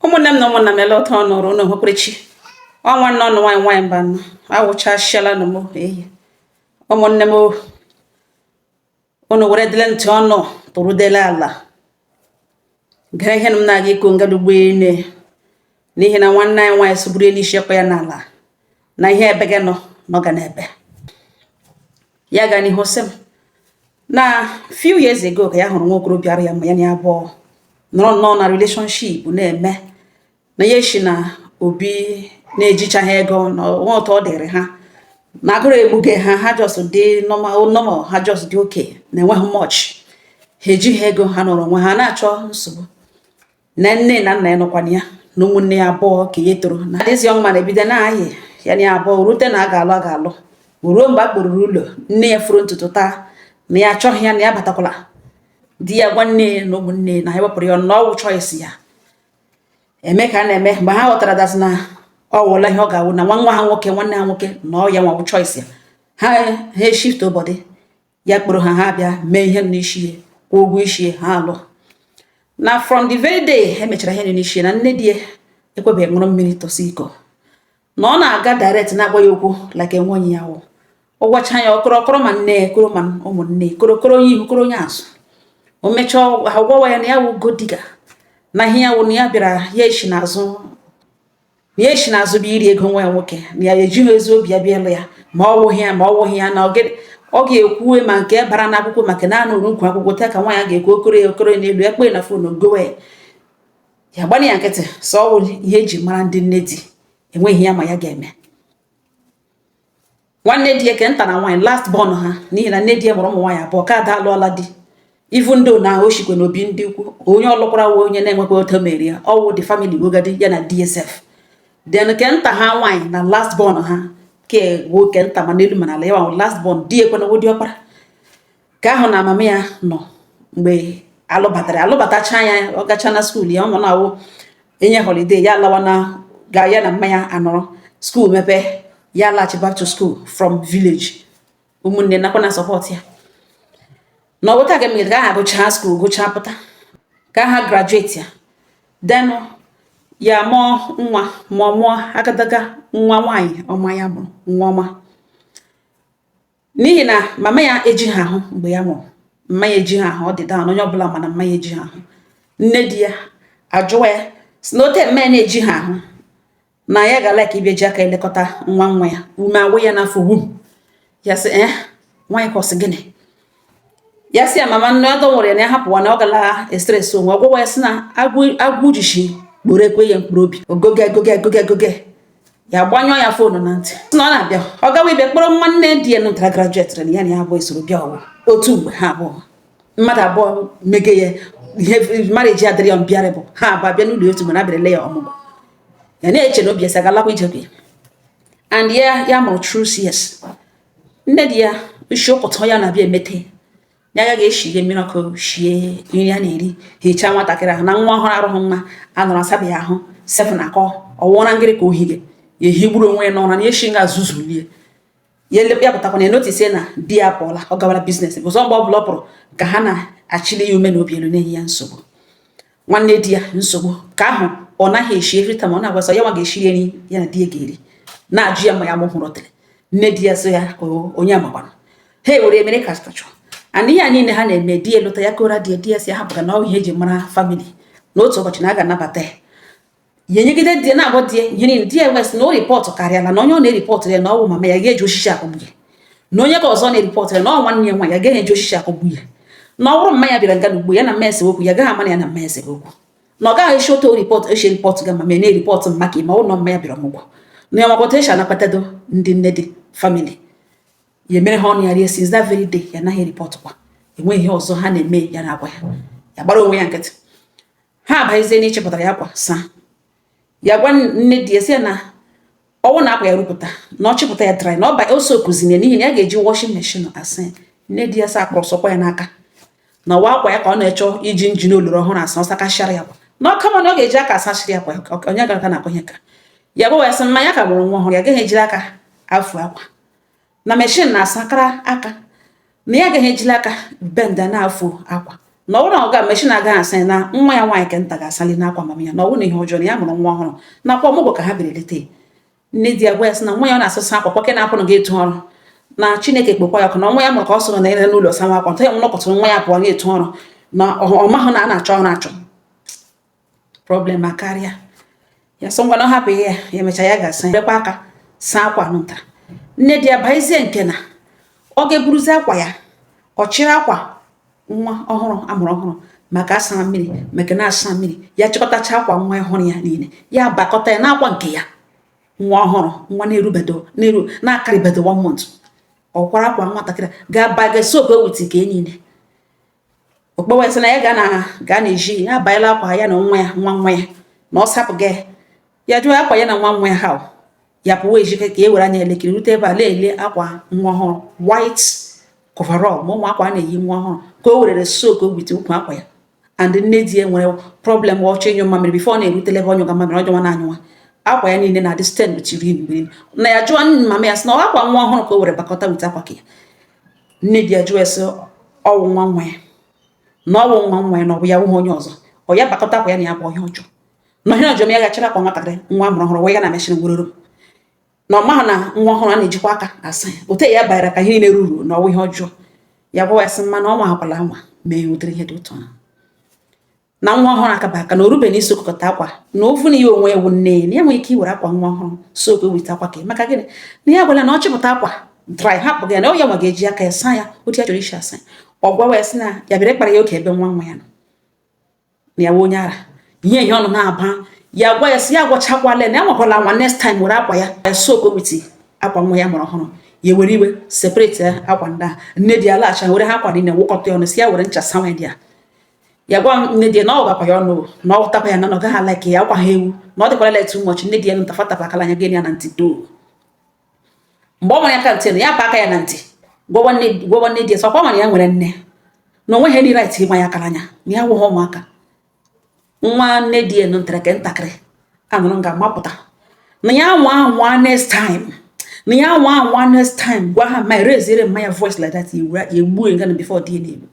ụmụnne m na ụmụnna m ele otu ọ nọrọ ụnụ hụkwerechi ọ nwanne ụnụ nwaanyị nwaanyị Mbanọ awụchasịala nụ m ehi ụmụnne m ụnụ were dịle ntị ụnụ tụrụdele ala gere ihe na m na-aga ịkọ ngada ugbu a n'ihi na nwanne anyị nwaanyị sụburu elu isi ekwe ya n'ala na ihe ebe gị nọ nọ ga n'ebe ya ga n'ihu sị m na few years ago ka ya hụrụ nwa okorobịa ara ya ma ya na ya abụọ nọrọ nnọọ na relationship na-eme na ya eshi na obi na-ejichaghị ego na nwa otu ọ dịrị ha na agụrụ egbuge ha ha just dị normal normal ha just dị okay na enweghị much ha ejighị ego ha nọrọ onwe ha na-achọ nsogbu na nne na nna ya nọkwana ya na ụmụnne ya abụọ ka ya toro na dịzi ọnwa na-ebido na-ayị ya na abụọ rute na a ga-alụ a ga-alụ ruo mgbe a kpọruru ụlọ nne ya furu ntutu taa na ya achọghị ya na ya batakwala di ya gwa nne na ụmụnne na ha wepụrụ ya na ọ wụ choice ya eme ka a na-eme mgbe ha ghọtara dazi na ọ wụla ihe ọ ga-awụ na nwa nwa ha nwoke nwanne ha nwoke na ọ ya nwa wụ choice ya ha ha eshift body ya kpọrọ ha ha bịa mee ihe n'isi ya kwụọ ụgwọ isi ya ha alụ na from the very day e mechara ihe n'isi ya na nne di ya ekwebeghị ṅụrụ mmiri tọsi iko na ọ na-aga direct na-agwa ya okwu like enweghị ya wụ ọ gwacha ya ọ kọrọ kọrọ ma nne ya kọrọ ma ụmụnne kọrọ kọrọ onye ihu kọrọ onye azụ o mechaa agwawa ya na ya wụ gold digger na ihe ya wụ na ya bịara ya esi n'azụ na ya esi n'azụ bịa iri ego nwa ya nwoke na ya ejighị ezi obi ya bịa ịlụ ya ma ọ wụghị ya ma ọ wụghị ya na ọ ga-ekwuwe ma nke bara n'akwụkwọ ma ke na-anọrọ n'akwụkwọ taa ka nwa ya ga-ekwu ọ kọrọ ya ọ kọrọ n'elu ya kpọ ya na phone kọwa ya gbana ya nkịtị sị ọ wụ ihe e ji mara ndị nne di e nweghị ihe ya ma ya ga-eme nwanne di ya ke nta na nwaanyị last born ha n'ihi na nne di ya mụrụ ụmụ nwaanyị abụọ ke ada alụọla di even though na o shikwa n'obi ndị ukwu onye ọ lụkwara wụ onye na-enwekwa otu mere ya ọ wụ the family wogadi ya na dsf then ke nta ha nwaanyị na last born ha ke nwoke nta ma n'elu ma n'ala wụ last born di ya kwanụ wụ diọkpara ke ahụ na mama ya nọ mgbe a lụbatara a lụbatacha ya ọ gacha na skuul ya ọ nọ na-awụ enye holiday ya alawa na ga ya na mama ya anọrọ skuul mepe ya laghachi back to school from village ụmụnne nọkwa na support ya na ọ wụ otu a ka e megide ke ahụ gụchaa skuul gụchaa pụta ke ahụ graduate ya then ya mụọ nwa ma ọ mụọ agadaga nwa nwaanyị ọma ya mụrụ nwa ọma n'ihi na mama ya ejighị ahụ mgbe ya mụrụ mma ya ejighị ahụ ọ dị daa onye ọbụla mana mma ya ejighị ahụ nne di ya ajụwa ya sị na ote mma ya na-ejighị ahụ na ya ga like ịbịa ji aka elekọta nwa nwa ya ume awụ ya n'afọ wum ya sị ee eh, nwaanyị ka ọ sị gịnị ya sị ya mama nne ọdọ nwere ya na ya hapụwa na ọ gala e-stress onwe ọmụgwọ ya sị na agwụ jishi kporo ekwe ya mkpụrụ obi ogoge egoge egoge egoge ya gbanyụọ ya foonu na ntị na ọ na-abịa ọ gawa ịbịa kpọrọ nwanne di ya nụtara grajuetịrị na ya na ya abụọ esoro bịa ọ wụ otu mgbe ha abụọ mmadụ abụọ mege ya ihe marriage adịrị ya mbịarị bụ ha abụọ bịa n'ụlọ otu mgbe na abịarịla ya ọmụgwọ ya na-eche na obi esi agalakwa ije ya and ya ya mụrụ through cs nne di ya isi ụkụtụ ya na-abịa emete ya ya ga-eshige mmiri ọkụ shie nri a na-eri hichaa nwatakịrị ahụ na nwa ọhụrụ arụghị mma anọrọ asabeghị ahụ sef na akọ ọ wụ ụra ngịrị ka o hige ya ehigburu onwe ya n'ụra ya eshi nga zuzulie ya ya pụtakwa na enotisie na di ya pụọla ọ gawara business bụzọ mgbe ọ bụla ọ pụrụ ka ha na-achịli ya ume n'obi elu na-enye ya nsogbu nwanne di ya nsogbu ka ahụ ọ naghị eshi every time ọ na-agwa sọ ya nwa ga-eshiri eri ya na di ya ga-eri na-ajụ ya ma ya mụ hụrụ tere nne di ya so ya onye amakwana ha ewere ya mere caricature and ihe a niile ha na-eme di ya lụta ya kọọrọ di ya di ya sị hapụga na ọ wụ ihe eji mara family na otu ụbọchị na a ga-anabata ya ya enyegide di ya na-agwa di ya ihe niile di ya wee sị na ọ ripọtụ karịala na onye ọ na-eripọtụ ya na ọ wụ mama ya ga-eji osisi akụgbu ya na onye ke ọzọ na-eripọtụ ya na ọ nwanne ya nwa ya gaghị eji osisi akụgbu ya na ọ bụrụ mma ya bịara nga na ugbo ya na mma ese okwu ya gaghị ama na ya na mma ese okwu na ọ gaghị esi otu ripọtụ esi ripọtụ ga mama ya na-eripọtụ mma ka ime ụlọ mma ya bịara ọmụgwọ na ya makwata esi a na-akpatado ndị nne di family ya mere ha ọnụ ya rie since that very day ya anaghị ripọtụkwa enweghị ihe ọzọ ha na-eme ya na-agwa ya ya gbara onwe ya nkịtị ha abazie n'ịchịpụtara ya akwa saa ya gwa nne di ya sị ya na ọ wụ na akwa ya rụpụta na ọ chịpụta ya dry na ọ ba ose okuzine n'ihi na ya ga-eji washing machine asa ya nne di ya sa akpọrọ sọkwa ya n'aka na ọ wụ akwa ya ka ọ na-achọ iji engine ọlọrọ ọhụrụ asa ọ sakachara ya akwa na ọ kama na ọ ga-eji aka asachiri ya akwa onye gara na-ekwenye ka ya gwa ya sị mma ya ka mụrụ nwa ọhụrụ ya gaghị ejiri aka afụ akwa na machine na-asakara aka na ya agaghị ejili aka benda na-afụ akwa na ọ bụrụ na ọ ga machine agaghị asa na nwa ya nwaanyị ke nta ga-asali n'akwa mama ya na ọ bụrụ na ihe ọjọọ na ya mụrụ nwa ọhụrụ na ọ kwa ọmụgwọ ka ha bịara ilete nne di ya gwa ya sị na nwa ya ọ na-asụsa akwa kwake na-apụ na ga-etu ọrụ na Chineke kpọkwa ya ọkụ na nwa ya mụrụ ka ọ sọrọ na ire n'ụlọ sawa akwa nta ya nwa nọkọtụrụ nwa ya pụọ ga-etu ọrụ na ọ mahụ na a na-achọ ọrụ achọ problem akarịa ya sị ngwanụ hapụ ihe ya emecha ya ga-asa ekwe aka saa akwa nụta nne di ya bịazie nke na ọ ga-eburuzi akwa ya ọ chịrị akwa nwa ọhụrụ amụrụ ọhụrụ maka asa mmiri maka na asa mmiri ya chịkọtacha akwa nwa ọhụrụ ya niile ya bakọta ya n'akwa nke ya nwa ọhụrụ nwa na-erubedo na-eru na-akarịbedo one month ọ kwara akwa nwatakịrị ga-aba ga soak with nke niile ọ kpọwa sị na ya ga na ga na eji ya abanyela akwa ya na nwa ya nwa nwa ya na ọ sapụ gị ya jụọ akwa ya na nwa nwa ya ha ya pụwa ejike ka e were anya elekere rute ebe a na-ele akwa nwa ọhụrụ white coverall ma ụmụ akwa a na-eyi nwa ọhụrụ ka o werere soak with ukwu akwa ya and nne di ya nwere problem ọ chọọ ịnyụ mamịrị before ọ na-erutele ebe ọ nyụga mamịrị ọjọọ na anyụwa akwa ya niile na-adị stain with urine na ya jụọ mama ya sị na ọ akwa nwa ọhụrụ ka o were bakọta with akwa ka ya nne di ya jụọ ya sị ọ wụ nwa nwa ya na ọ wụ nwa nwa ya na ọ bụ ya wụghị onye ọzọ ọ ya bakọta akwa ya na ya bụ ihe ọjọọ na ihe ọjọọ ya gachara akwa nwatakịrị nwa amụrụ ọhụrụ wee ya na machine weroro na ọ maghị na nwa ọhụrụ a na-ejikwa aka asa ya ote ya banyere ka ihe niile ruru na ọ wụ ihe ọjọọ ya gwawa ya sị mma na ọ nwakwala nwa mee ụdịrị ihe dị otu a na nwa ọhụrụ akaba aka na o rube na isokọta akwa na ovu na ya onwe ewu nne na enwe ike iwere akwa nwa ọhụrụ soak with akwa ka maka gịnị na ya gwara na ọ chịpụta akwa dry hapụ gị na ọ ya nwa ga-eji aka ya saa ya otu ya chọrọ isi asa ọ gwawa ya sị na ya bịara ịkpara ya oke ebe nwa nwa ya nọ na ya onye ara ihe ihe ọnụ na-aba ya gwa ya sị ya gwachakwala na ya nwakwala nwa next time were akwa ya ya soak with akwa nwa ya mụrụ ọhụrụ ya were iwe separate akwa ndị a nne di ya laghachi were ha akwa niile wụkọta ọnụ sị ya were ncha sawa ya ya gwa nne di ya na ọ gakwa ya ọnụ na ọ takwa ya na ọ gaghị alike ya ọkwa ha ewu na ọ dịkwara letu ụbọchị nne di ya nụta fatapụ akala anya gị ya na ntị doo mgbe ọ nwere ya aka ntị na ya pa aka ya na ntị gwawa nne di ya sị ọ kwa nwere ya nwere nne na o nwehadị right ịgba ya akala anya na ya wụghị ụmụaka nwanne di ya nụtara ke ntakịrị anụrụ nga mapụta na ya nwa nwa next time na ya nwa nwa next time gwa ha ma raisiere mma ya voice like that ya egbuo nga na before di ya na-egbu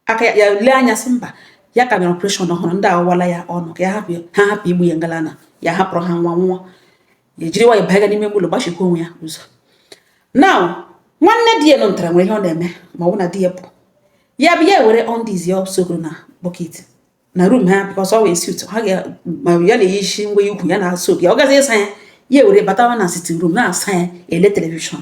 aka ya lee anya sị mba ya ka mere operation ọhụrụ ndị awụwala ya ọnụ ka ya hapụ ha hapụ igbu ya ngalana ya hapụrụ ha nwa nwa ya jiri nwayọ banye n'ime ụlọ gbachikwa onwe ya ụzọ na nwanne di ya nọ ntara nwere ihe ọ na-eme ma ọ bụ na di ya pụọ ya bụ ya were undies ya soakoro na bucket na room ha because ọ wee sut ha ga ma ya na-eyi isi ngwa ukwu ya na-asụ ya ọ gazi ịsa ya ya were batawa na sitting room na-asa ya ele television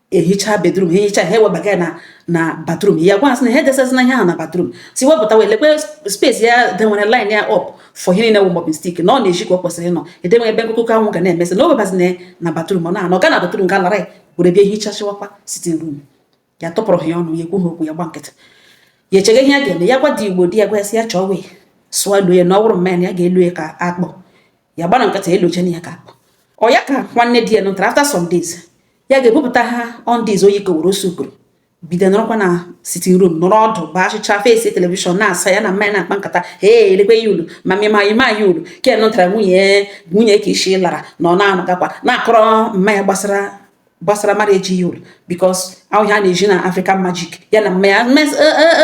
ehicha bedroom ha ehicha ha ewebaga ya na na bathroom ya gwa ya sị na ha edesazina ihe ahụ na bathroom sị wepụta wee lekwe space ya denwere line ya up for ihe niile wụ mopping stick na ọ na-eji ka ọ kwesịrị ịnọ edenwe ebe ikuku anwụ ga na-emesị na ewebazina na bathroom ọ na-anọ ga na bathroom ga lara were bịa hichachịwakwa sitting room ya tụpụrụ ha ya ọnụ ya ekwu ha okwu ya gba nkịtị ya echega ihe ya ga-eme ya gwa di igbo di ya gwa ya sị ya chọọ wee sụọ elo ya na ọ bụrụ mama ya ya ga-elo ya ka akpụ ya gbara nkịtị elochana ya ka akpụ ọ ya ka nwanne di ya nụtara after some days ya ga-ebupụta ha undies o yi koworo osuburu bido nọrọkwa na sitting room nọrọ ọdụ bụ achịcha face television na-asa ya na mama ya na-akpa nkata ee elekwe ya ulu ma mịma ima ya ulu ke nụtara nwunye nwunye ka isi lara na ọ na-anọgakwa na-akọrọ mama ya gbasara gbasara mmadụ ejighị olu because ọ wụ ihe a na-ezi na African Magic ya na mama ya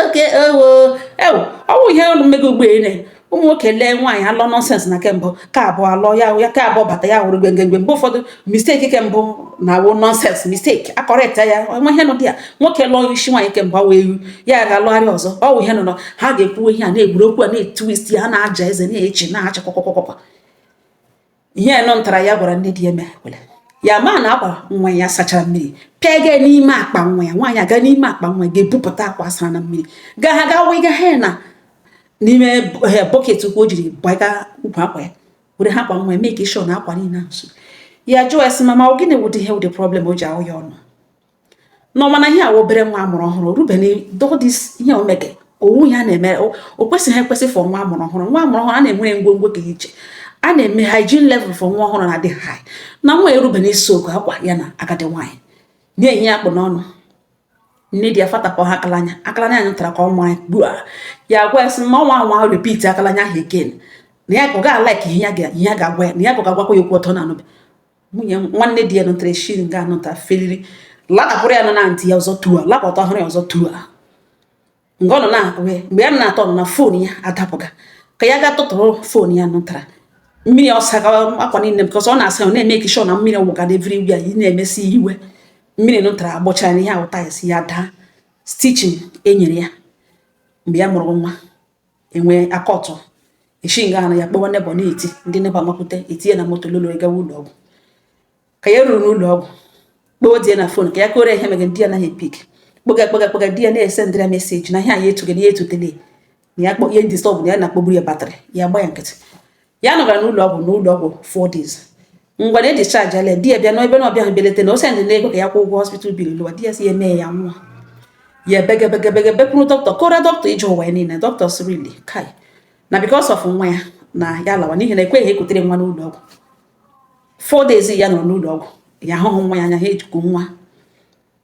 oke ewo ewo ọ bụ ihe ọnụ mmega ugbo ene ụmụ nwoke lee nwaanyị alụọ nonsense na ke mbụ ke abụọ alụọ ya ya ke abụọ bata ya wụrụ gbengengbe mgbe ụfọdụ mistake ke mbụ na-awụ nonsense mistake akọrịta ya nwa ihe nọ dị ya nwoke lụọ isi nwaanyị ke mbụ awụ ewu ya ga-alụgharị ọzọ ọ wụ ihe nọ ha ga-ekwu ihe a na-egwuru okwu a na-etwist ya na-aja eze na-achị na-acha kwakwakwakwakwa ihe nụtara ya gwara nne di ya mere kwere ya ma na akwa nwa ya sachara mmiri pịa ga n'ime akpa nwa ya nwaanyị aga n'ime akpa nwa ga-ebupụta akwa sara na mmiri ga ha ga wega ha na n'ime bucket ukwu o jiri gbaga ukwu akwa ya were ha akwa nwa ya make sure na akwa niile ahụ ya jụọ ya sị mama ọ gịnị wụdị ihe wụdị problem o ji ahụ ya ọnụ na ọ ma na ihe a obere nwa a mụrụ ọhụrụ rubeni dodis ihe o mege ọ wụ ya na-eme o kwesịghị ekwesị for nwa a mụrụ ọhụrụ nwa a mụrụ ọhụrụ a na-enwe ngwongwo dị iche a na-eme hygiene level for nwa ọhụrụ na-adị high na nwa erubeni ịsụkọ akwa ya na agadi nwaanyị na-enye akpụ n'ọnụ nne di ya fatapụ ya akalanya akalanya nụtara ka ọ mara gbuo ya gwa ya sị na ọ nwaa anwa repeat akalanya ahụ again na ya ka ọ ga-alike ihe ya ga-agwa ya na ya ka ọ ga-agwakwa ya okwu ọtọ na anụbe nwunye nwanne di ya nụtara eshi nga anụta feliri latapụrụ ya nọ na ntị ya ọzọ tua latapụrụ ya ọzọ tua mgbe ọ nọ na wee mgbe ya na-atọ nọ na phone ya adapụga ka ya gaa tụtụrụ phone ya nụtara mmiri ọ sa akwa niile because ọ na-asa ya ọ na-emake sure na mmiri awụga na everywhere ị na-emesi iwe mmiri nụtara agbọcha ya ihe ahụ tiles ya daa stitching e nyere ya mgbe ya mụrụ nwa enwe akọtụ eshi nga anụ ya kpọwa neighbour na-eti ndị neighbour amakwute etinye na moto lolo gawa ụlọ ọgwụ ka ya ruru n'ụlọ ọgwụ kpọọ di ya na phone ka ya kọọrọ ihe mege di ya anaghị epick kpọga kpọga kpọga di ya na-esendịra message na ihe anyị etugị na ya etutele na ya kpọ ihe disturb na ya na-akpọgburu ya battery ya gba ya nkịtị ya nọgara n'ụlọ ọgwụ n'ụlọ ọgwụ four days ngwa na e discharge ala di ya bịa na-ebe na ọ bịa beleta na o sendị na ego ka ya kwụọ ụgwọ hospital bill lọwa di ya sị ya mee ya nwa ya ebegebegebe bekwuru dọkịta kọọrọ dọkịta ije ụwa ya niile dọkịta sirili kai na because of nwa ya na ya lawa n'ihi na ekweghị ekutere nwa n'ụlọ ọgwụ four days ya nọ n'ụlọ ọgwụ ya ahụhụ nwa ya anya ha ejikọ nwa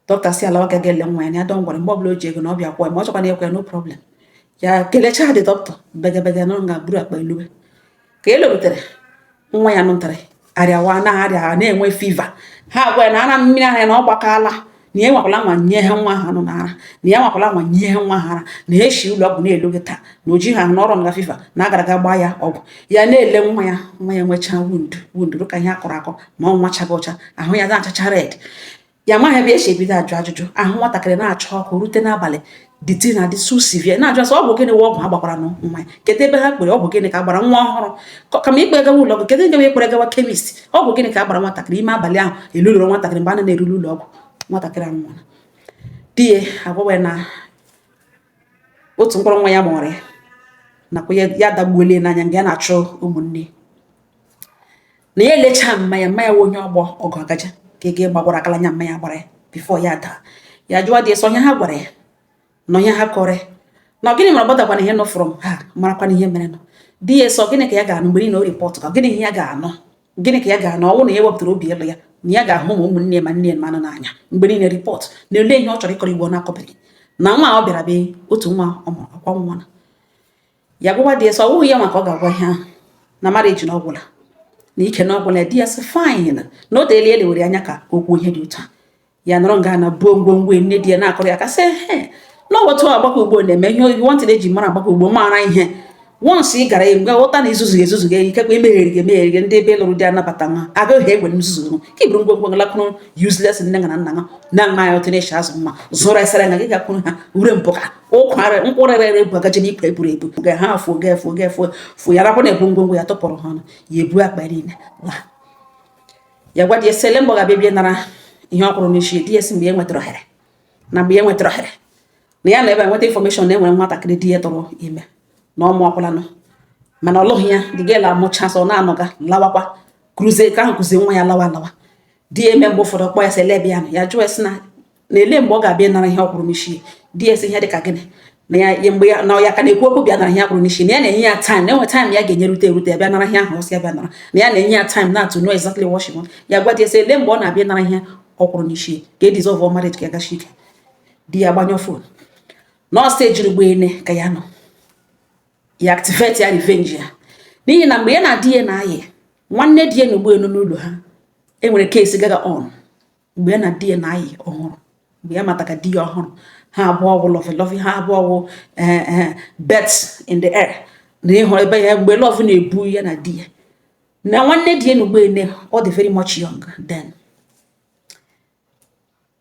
dọkịta sị ya lawa ga ele nwa ya na ya don't worry mgbe ọbụla o ji ego na ọ bịa kwụọ ya ma ọ chọkwa na ekwe ya no problem ya kelechaa the dọkịta begebege nọ nga buru akpa lọwa ka e lorutere nwa ya nwata ahụ arịawa na-arịa na-enwe fever ha agwa ya na ara mmiri ara ya na ọ gbakaala na ya anwakwala anwa nyewa nwa ahụ ọnụ n'ara na ya anwakwala anwa nyewa nwa ahụ ara na eshi ụlọ ọgwụ na-elu gị taa na oji ha n'ọrụ na fever na a gara aga gbaa ya ọgwụ ya na-ele nwa ya nwa ya nwechaa wound wound ka ihe a kọrọ akọ ma ọ nwa chaga ọcha ahụ ya na-achacha red ya amaghị ebe e si ebido ajụ ajụjụ ahụ nwatakịrị na-acha ọkụ rute n'abalị the thing adị so severe na-ajụ asị ọ bụ gịnị ọgwụ ha gbakwara na nwa ya kedu ebe ha kpere ọ bụ gịnị ka a gbara nwa ọhụrụ kama ikpe gawa ụlọ ọgwụ kedu nke wụ e kpere gawa chemist ọ bụ gịnị ka a gbara nwatakịrị ime abalị ahụ elulụrụ nwatakịrị mgbe a na-erule ụlọ ọgwụ nwatakịrị anwụọla di ya agwawa na otu mkpụrụ nwa ya mụrụ ya nakwa ya dagbuolie n'anya nga ya na-achọ ụmụnne na ya elechaa mma ya mma ya onye ọgbọ ọgụ agaja ka ị ga-agbagwara akala anya mma ya gbara ya before ya daa ya jụwa di ya sị ọ onye ha gwara ya na onye ha kọrọ ya na gịnị mara gbọdakwana ihe nọ from ha marakwana ihe mere nọ di ya sị ọ gịnị ka ya ga-anụ mgbe niile ọ report ka gịnị ihe ya ga-anụ gịnị ka ya ga-anụ ọ wụ na ya wepụtara obi elu ya na ya ga-ahụ ma ụmụnne ma nne mmadụ n'anya mgbe niile report na ele ihe ọ chọrọ ịkọrọ igbo ọ na-akọbeghị na nwa ọ bịara be otu nwa ọ mụrụ akwa nwa na ya gwawa di ya sị ọ wụghị ya nwa ka ọ ga-agwa ihe ahụ na marriage na ọ gwụla na ike na ọ gwụla di ya sị fine na o teela e lewere anya ka o kwuo ihe dị otu a ya nọrọ nga na-ebu ngwongwo nne di ya na-akọrọ ya ka sị he na otu agbakọ ugbo na-eme ihe oyibo ntị na-eji mara agbakọ ugbo mara ihe once ị gara nga ghọta na i zuzu ezuzu ga ikekwe emegheri gị emegheri gị ndị be ị lụrụ di anabata nwa agaghị ekwe nzuzu ka i buru ngwongwo lakwuru useless nne na nna na nna ya otu na-eche azụ mma zụrụ esere nga gị gakwuru ha ure mpụ ka ụkwara nkwụrịrịrị bụ agaje n'ikpe eburu ebu ga ha afụ ga efu ga efu fụ ya rapụ na-ebu ngwongwo ya tụpụrụ ha ọnụ ya ebu akpa niile laa ya gwa di ya sị ele mgbe ọ ga-abịa bịa nara ihe ọ kwụrụ n'isi di ya sị mgbe ya nwetara ohere na mgbe ya nwetara ohere na ya na-ebe nweta information na e nwere nwatakịrị di ya tụrụ ime na ọ mụọkwalanụ mana ọ lụghị ya the girl amụcha sị ọ na-anọga lawakwa kuruzie ka ahụ kuzie nwa ya lawa lawa di ya eme mgbe ụfọdụ kpọọ ya sị ele ebe ya nọ ya jụọ ya sị na na ele mgbe ọ ga-abịa nara ihe ọ kwụrụ n'isi di ya asị ihe dị ka gịnị na ya mgbe ya na ya ka na-ekwu okwu bịa nara ihe a kwụrụ n'isi na ya na-enye ya time na e nwe time ya ga-enye rute erute bịa nara ihe ahụ ọ sị ya bịa nara na ya na-enye ya time to know exactly what she want ya gwa di ya sị ele mgbe ọ na-abịa nara ihe ọ kwụrụ n'isi ka e dissolve ọ marriage ka ya gachi ike di ya gbanyụọ phone nọọsụ ejiri gba ene ka ya nọ ya activate ya revenge ya n'ihi na mgbe ya na di ya na-ayị nwanne di ya na ugbo elu n'ụlọ ha e nwere case gaga on mgbe ya na di ya na-ayị ọhụrụ mgbe ya mata ka di ya ọhụrụ ha abụọ wụ lovey lovey ha abụọ wụ eh, eh, birds in the air na ịhụ ebe ya mgbe love na-ebu ya na di ya na nwanne di ya na ugbene ọ dị very much young then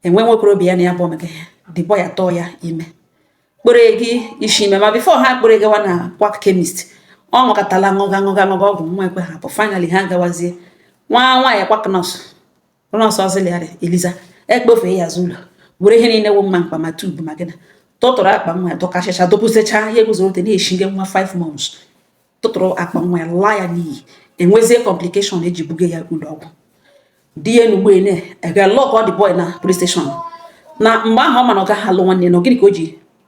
e nwe nwa okorobịa na ya bụ omega ya the boy atụọ ya ime kpọrọ ga isi ime ma before ha kpọrọ gawa na quack chemist ọ ṅụkọtala ṅụga ṅụga ṅụga ọgwụ nwa ekwe hapụ finally ha gawazie nwa nwaanyị quack nurse nurse auxiliary eliza akpọfee ya azụ ụlọ were ihe niile wụ ma mkpa ma tube ma gịnị tụtụrụ akpa nwa ya dọkachịcha dọpụsịcha ihe guzorote n'eshi nke nwa 5 months tụtụrụ akpa nwa ya laa ya n'iyi e nwezie complication e ji buga ya ụlọ ọgwụ di ya n'ugbo ene aga lock up the boy na police station na mgbe ahụ ọ ma na ọ gaghị alụ nwanne na gịnị ka o ji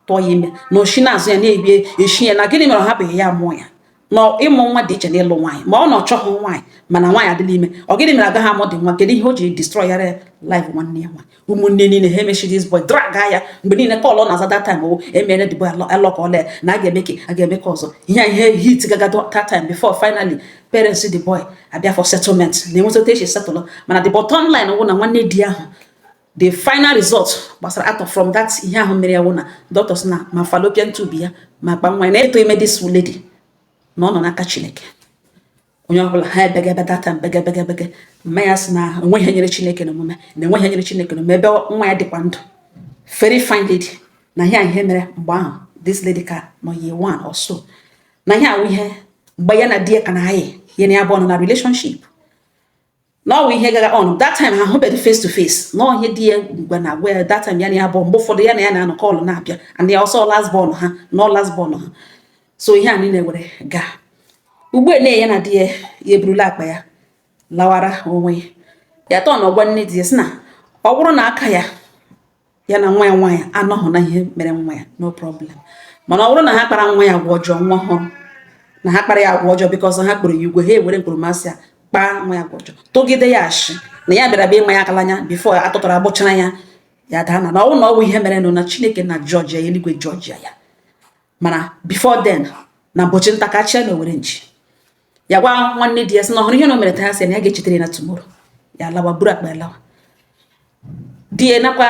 tụọ ya ime na o shi n'azụ ya na-ebie eshi ya na gịnị mere ọ hapụghị ya mụọ ya na ịmụ nwa dị iche na ịlụ nwaanyị ma ọ na ọ chọghị nwaanyị mana nwaanyị adịla ime ọ gịnị mere agaghị amụdị nwa kedu ihe o ji destroyara life nwanne ya nwaanyị ụmụnne niile ha emechie this boy drag ya mgbe niile call na-aza that time owo emere the boy alọka ọla ya na a ga-eme ka a ga-eme ka ọzọ ihe ihe hit gaga that time before finally parents the boy abịa for settlement na enweta otu e si settle mana the bottom line wụ na nwanne di ahụ the final result gbasara out from that ihe ahụ mere ya wụ na doctors na ma fallopian tube ya ma akpa nwa na ịtụ ime this lady na ọ nọ n'aka chineke onye ọbụla ha ebega ebe data mbega bega bega mma ya sị na enweghị ihe nyịrị chineke n'omume na enweghị ihe nyịrị chineke n'omume ebe nwa ya dịkwa ndụ very fine lady na ihe ihe mere mgbe ahụ this lady ka nọ year one or so na ihe a wụ ihe mgbe ya na di ya ka na-ayị ya na ya bụ ọnụ na relationship na ọ wụ ihe gaga on that time ha hụbeghị face to face na ọ ihe di ya gwa na-agwa ya that time ya na ya bụ mgbe ụfọdụ ya na ya na-anọ call na-abịa and ya also last born ha na last born ha so ihe a niile were gaa ugbu a ya na di ya ya eburula akpa ya lawara onwe ya ya tọọ na ọ gwa nne di ya sị na ọ bụrụ na aka ya ya na nwa ya nwaanyị anọghị na ihe mere nwa ya no problem mana ọ bụrụ na ha kpara nwa ya agwa ọjọọ ma ọ wụrụ na ha kpara ya agwa ọjọọ because ha kpọrọ ya ugwu ha ewere mkpọrọmasị ya kpaa nwa ya agwa ọjọọ tụgide ya ashị na ya bịara bịa nwa ya aka n'anya before atụtara agbụchara ya ya daa na na ọ wụrụ na ọ wụ ihe merenụ na chineke na judge ya eluigwe judge ya mana before then na mbọchị nta ka a chụa n'owere nchi ya gwa nwanne di ya sị na ọ hụrụ ihe na o mere taa sị na ya ga-echetere na tomorrow ya lawa buru akpa lawa di ya nakwa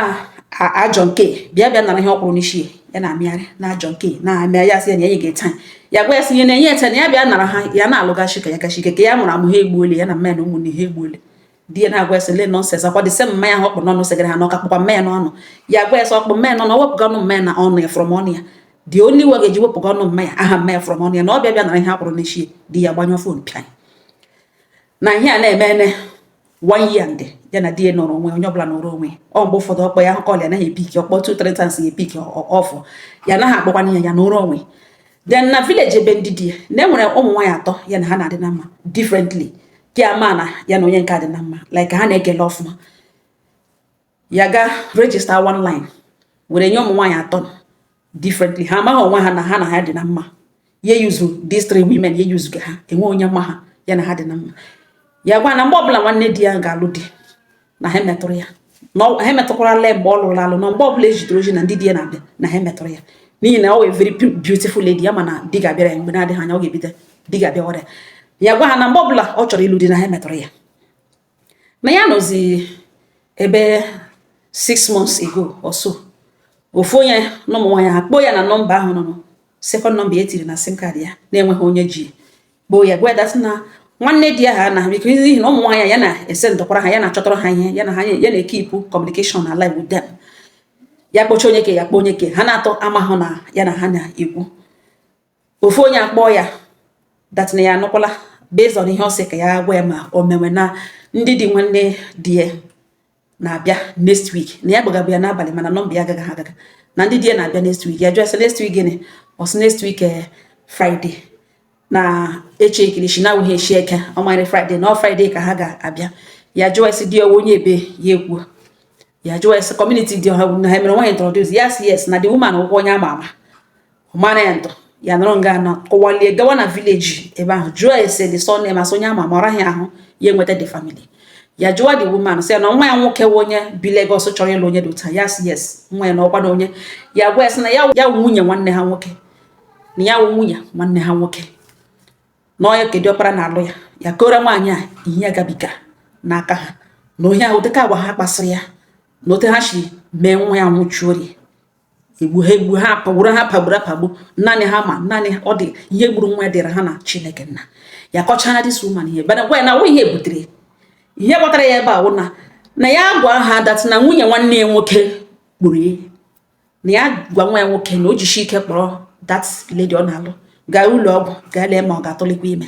ajọ nke bịa bịa nara ihe ọ kwụrụ n'isi ya na-amịgharị na ajọ nke na-amịa ya sị ya na ya ga taa ya gwa ya sị ihe na-enye ete na ya bịa nara ha ya na-alụgachi ka ya gachi ike ka ya mụrụ amụ ha egbuole ya na mma ya na ụmụnne ha egbuole di ya na-agwa ya sị le nonsense ọkwa the same mma ya ahụ ọ kpụ n'ọnụ segara ha na ọ ka kpụkwa mma ya n'ọnụ ya agwa ya sị ọ kpụ mma ya n'ọnụ wepụga ọnụ mma ya na ọnụ ya from ọnụ ya the only way ga-eji wepụga ọnụ mma ya aha mma ya from ọnụ ya na ọ bịa bịa nara ihe a kwụrụ n'isi di ya gbanyụọ phone pịa na ihe a na-eme ene one year ndị ya na di ya nọrọ onwe onye ọbụla nọrọ onwe ọ mgbe ụfọdụ ọ kpọọ ya ahụ call ya anaghị epiki ọ kpọọ two three times ya epiki ofu ya anaghị akpọkwana ya ya nọrọ onwe then na village ebe ndị di ya na e nwere ụmụ nwaanyị atọ ya na ha na-adị na mma differently ke a ama na ya na onye nke a dị na mma like ha na-ekele ọfụma ya ga register one line were nye ụmụ nwaanyị atọ differently ha amaghị onwe ha na ha na ha dị na mma ya yuzu these three women ya yuzuga ha enwe onye ma na ya na ha dị na mma ya gwa na mgbe ọbụla nwanne di ya ga-alụ di na ha emetụrụ ya na ha emetụkwara lee mgbe ọ lụrụ alụ na mgbe ọbụla ejidere oji na ndị di ya na-abịa na ha emetụrụ ya n'ihi na ọ wụ a very beautiful lady ya ma na di ga-abịara ya mgbe na-adịghị anya ọ ga-ebido di ga-abịawara ya ya gwa ha na mgbe ọbụla ọ chọrọ ịlụ di na ha emetụrụ ya na ya nọzi ebe six months ago or so ofu onye na ụmụ nwaanyị a kpọọ ya na nọmba ahụ nọ second nọmba ya tiri na sim card ya na-enweghị onye ji kpọọ ya gwa ya that na nwanne di ya ha na biko n'ihi na ụmụ nwaanyị ya na-esendụkwara ha ya na-achọtara ha ihe ya na ha ya na-ekeep communication alive with them ya kpọcha onye ke ya kpọ onye ke ha n'atọ amahụ na ya na ha na-ekwu ofu onye akpọọ ya that na ya anụkwala based on ihe ọ sị ka ya gwa ya ma o mewe na ndị di nwanne di ya na-abịa next week na ya gbagabụ ya n'abalị mana nọmba ya agaghị agaga na ndị di ya na-abịa next week ya jụọ sị next week gịnị ọ sị next week eh, Friday na echi ekirichi na awụghị echi eke ọ manyere Friday na ọ Friday ka ha ga-abịa ya jụọ sị di ya onye ebee ya ekwuo ya jụọ sị community dị ọha na ha mere nwaanyị introduce yes yes na the woman wụkwa onye ama ama mara ya ntọ ya nọrọ nga ọ nọ kuwalie gawa na village ebe ahụ jụọ ese the surname a sị onye ama mara ya ahụ ya enweta the family ya jụwa the woman sị ya na nwa ya nwoke wụ onye bi Lagos chọrọ ịlụ onye dị otu a ya sị yes nwa ya na ọkwa na onye ya gwa ya sị na ya wụ nwunye nwanne ha nwoke na ya wụ nwunye nwanne ha nwoke na onye ke diọkpara na-alụ ya ya kọọrọ nwaanyị a ihe ya gabiga n'aka ha na onye ahụ dịka agwa ha kpasịrị ya na ote ha si mee nwa ya nwụchuo egbu ha egbu ha pagburu ha pagburu apagbu naanị ha ma naanị ọ dị ihe gburu nwa ya dịrị ha na chineke nna ya kọchara this woman ihe bana gwa ya na ihe butere ihe kpọtara ya ebe a wụ na na ya gwa ha that na nwunye nwanne ya nwoke kpọrọ ya na ya gwa nwa ya nwoke na o jishi ike kpọrọ that lady ọ na-alụ gaa ụlọ ọgwụ gaa lee ma ọ ga-atụlikwa ime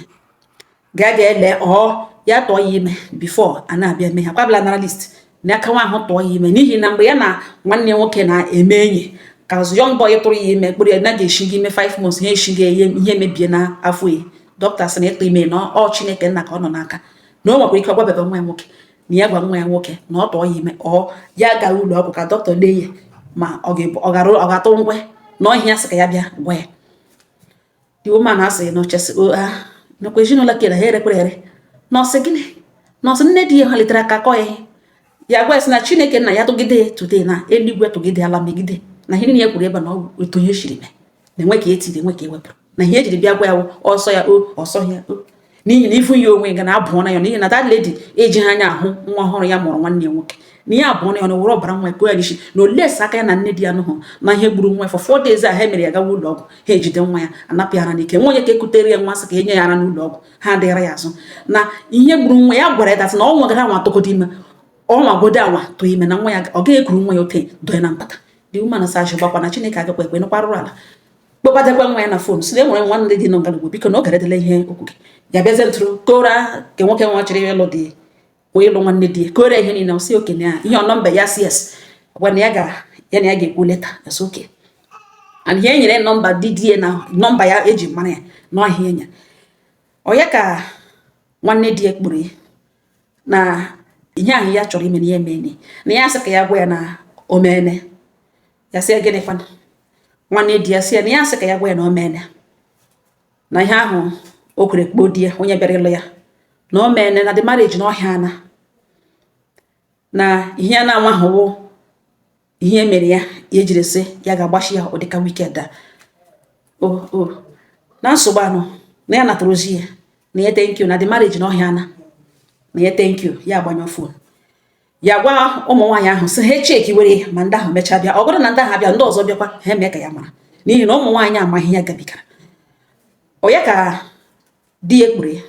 ga ga ele ọ ya tụọ ya ime before a na-abịa eme ihe ọ bụla nara list na aka nwa ahụ tụọ ya ime n'ihi na mgbe ya na nwanne nwoke na-eme enyi ka young boy tụrụ ya ime kpọrọ ya na ga-eshi gị ime 5 months ihe eshi gị ihe mebie na afọ ya dọkịta sị na ịtụ ime na ọ chineke nna ka ọ nọ n'aka na o nwekwara ike ọ gwabebe nwa ya nwoke na ya gwa nwa ya nwoke na ọ tụọ ya ime ọ ya gara ụlọ ọgwụ ka dọkịta lee ya ma ọ ga-atụ ngwe na ọ ihe ya sị ka ya bịa gwa ya the woman asị na ọchasị ha nakwa ezinụlọ kere ha erekwere ere na ọ sị gịnị na ọ sị nne di ya ha litere aka kọ ya ihe ya gwa sị na chineke nna ya tụgide ya today na eluigwe tụgide ala megide na ihe niile ya kwuru ebe na otu ihe siri mee na enwe ka etiri enwe ka ewepụrụ na ihe ejiri bịa gwa ya ọsọ ya o ọsọ ya o n'ihi na ifu ya onwe ga na-abụọ na ya n'ihi na that lady eji ha anya ahụ nwa ọhụrụ ya mụrụ nwanne ya nwoke na ya abụọ na ya na were ọbara nwa ekwe ya n'isi na olesi aka ya na nne di ya nụhụ na ihe gburu nwa for 4 days a ha mere ya gawa ụlọ ọgwụ ha ejide nwa ya anapụ ya ara n'ike nwa onye ka ekutere ya nwa sị ka enye ya ara n'ụlọ ọgwụ ha adịghara ya azụ na ihe gburu nwa ya gwara ya that na ọ nwagodu anwa tụgodu ime ọ nwagodu anwa tụọ ime na nwa ya ọ gaghị ekuru nwa ya ote doye na mpata dị umanụ sa ajụ gbakwa na chineke agakwa ekwe nụkwarụrụ ala kpọbatakwa nwa ya na phone sị na enwere nwa ndị dị nọ ngalugbo biko na ọ garedela ihe okwu gị ya bịazie ntụrụ kọọrọ nke nwoke nwa chọrọ ịlụ dị wee ịlụ nwanne di ya kọọrọ ihe niile sị okay nye ya ihe ọ nọmba ya sị yes gwa na ya ga ya na ya ga-ekwu later ya sị okay and ihe enyere nọmba dị di ya na nọmba ya eji mara ya n'ọhịa enya onye ka nwanne di ya kpọrọ ya na ihe ahụ ya chọrọ ime na ya emeene na ya sị ka ya gwa ya na o meene ya sị ya gịnịkwana nwanne di ya sị ya na ya sị ka ya gwa ya na o meene na ihe ahụ o kwuru kpọọ di ya onye bịara ịlụ ya na o meene na the marriage na ọhịa ana na ihe ya na-anwahụwo ihe mere ya ya jiri sị ya ga-akpọchi ya ụdịka weekend a na nsogbu anọ na ya natara ozi ya na ya thank you na the marriage na ọhịa ana na ya thank you ya agbanyụ phone ya gwa ụmụ nwaanyị ahụ sị ha cheki were ya ma ndị ahụ mechaa bịa ọ bụrụ na ndị ahụ abịa ndị ọzọ bịakwa ha mee ka ya mara n'ihi na ụmụ nwaanyị amaghị ya gabigara onye ka di ya kpọrọ ya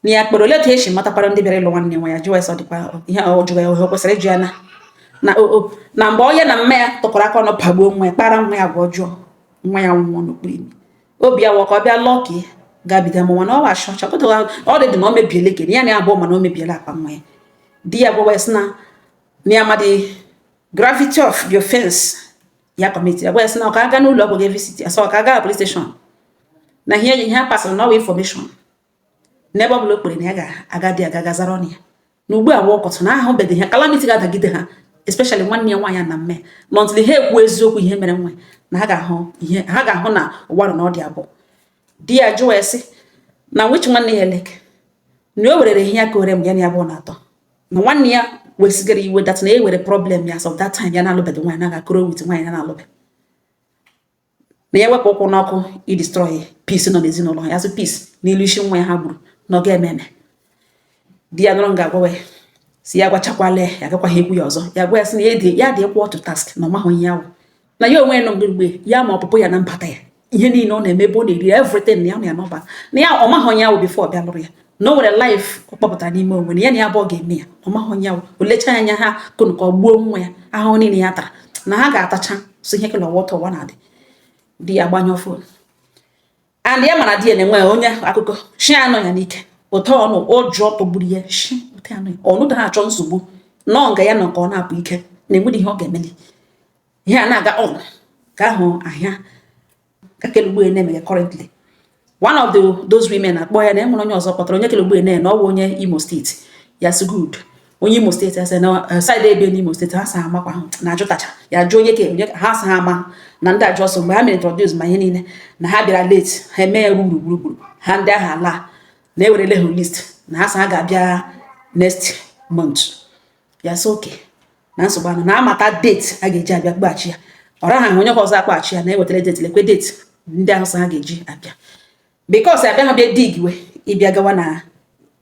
na ya kpọrọ ole ka esi matakwara ndị bịara ịlụ nwanne nwa ya jụọ ya sị ọ dịkwa ihe ọ jụrụ ya o kwesịrị ịjụ ya na na o na mgbe ọ ya na mama ya tụkọrọ aka ọnụ pagbuo nwa ya kpara nwa ya agwa ọjọọ nwa ya nwụọ n'okpuru imi obi ya wụ ka ọ bịa lụọ ka gabiga mụnwa na ọ wa achọ chọpụtara ọ dị dị na ọ mebiele kidney ya na abụọ mana o mebiele akpa nwa ya di ya gwawa ya sị na na ya amadị gravity of the offense ya commit ya gwa ya sị na ọ ka aga n'ụlọ ọgwụ ga-evisit ya sọ ọ ka aga na police station na ihe ihe a pasịrị na ọ bụ information n'ebe ọ bụla o kpere na ya ga-aga di ya ga-aga zara ọnụ ya na ugbu a ọkọtụ na ahụbedị ha calamity ga-adagide ha especially nwanne ya nwaanyị na mme until ha ekwu eziokwu ihe mere nwa na ha ga-ahụ ihe ha ga-ahụ na ụwa nọ n'ọdị abụọ di ya jụọ ya sị na which nwanne ya like na o nwerere ihe ya kọọrọ ya mgbe ya na ya abụọ na-atọ na nwanne ya wesigara iwe that na e nwere problem ya so that time ya na-alụbeghị nwaanyị na-aga koro with nwaanyị na-alụbeghị na ya wepụ ụkwụ n'ọkụ idestroy peace nọ n'ezinụlọ ya sị peace n'elu isi nwa ya ha gburu na ọ ga-eme eme di ya nọrọ nga agwawa ya sị ya gwachakwala ya agakwaghị ekwu ya ọzọ ya gwa ya sị na ya dị ya dị ekwu otu task na ọ mahụ ihe ahụ na ya onwe ya nọ mgbe ya ma ọpụpụ ya na mbata ya ihe niile ọ na-eme ebe ọ na-eri everything na ya na ya n'ọba na ya ọ mahụ onye ahụ before ọ bịa lụrụ ya na o nwere life ọ kpọpụtara n'ime onwe na ya na ya abụọ ga-eme ya ọ maghị onye ọ bụ o lechaa anya ha kụnụ ka ọ gbuo nwa ya ahụhụ niile ya tara na ha ga-atacha so ihe kele ọ wụ otu ụwa na-adị di ya gbanyụọ phone and ya mara di ya na-enwe onye akụkọ shi anọ ya n'ike ụtọ ọnụ ụjọ tọgburu ya shi ụtọ anọ ya ọnụ da achọ nsogbu nọọ nga ya nọ ka ọ na-apụ ike na enweghị ihe ọ ga-emeli ihe a na-aga ọnụ ka ahụ ahịa kelugbu ene mere currently one of those women akpọ ya na enwere onye ọzọ kpọtara onye kelugbu ene na ọ wụ onye Imo steeti ya sị good onye Imo steeti ya sị na eh, side ebee n'Imo steeti ha sa ha amakwa na ajụtacha ya jụọ onye ka onye ha sa ha ama na ndị ajụ ọsọ mgbe ha mere introduce ma ihe niile na ha bịara late ha eme ya ruru gburugburu ha ndị ahụ ala na ewerele ha list na ha sa ha ga-abịa next month ya sị okay na nsogbu anọ na amata date a ga-eji abịa gbaghachi ya ọ ra ha ahụ onye kwa ọzọ akpọghachi ya na-ewetara date lekwe date ndị ahụ sị ha ga-eji abịa because abịa ha bịa dig we ịbịa gawa na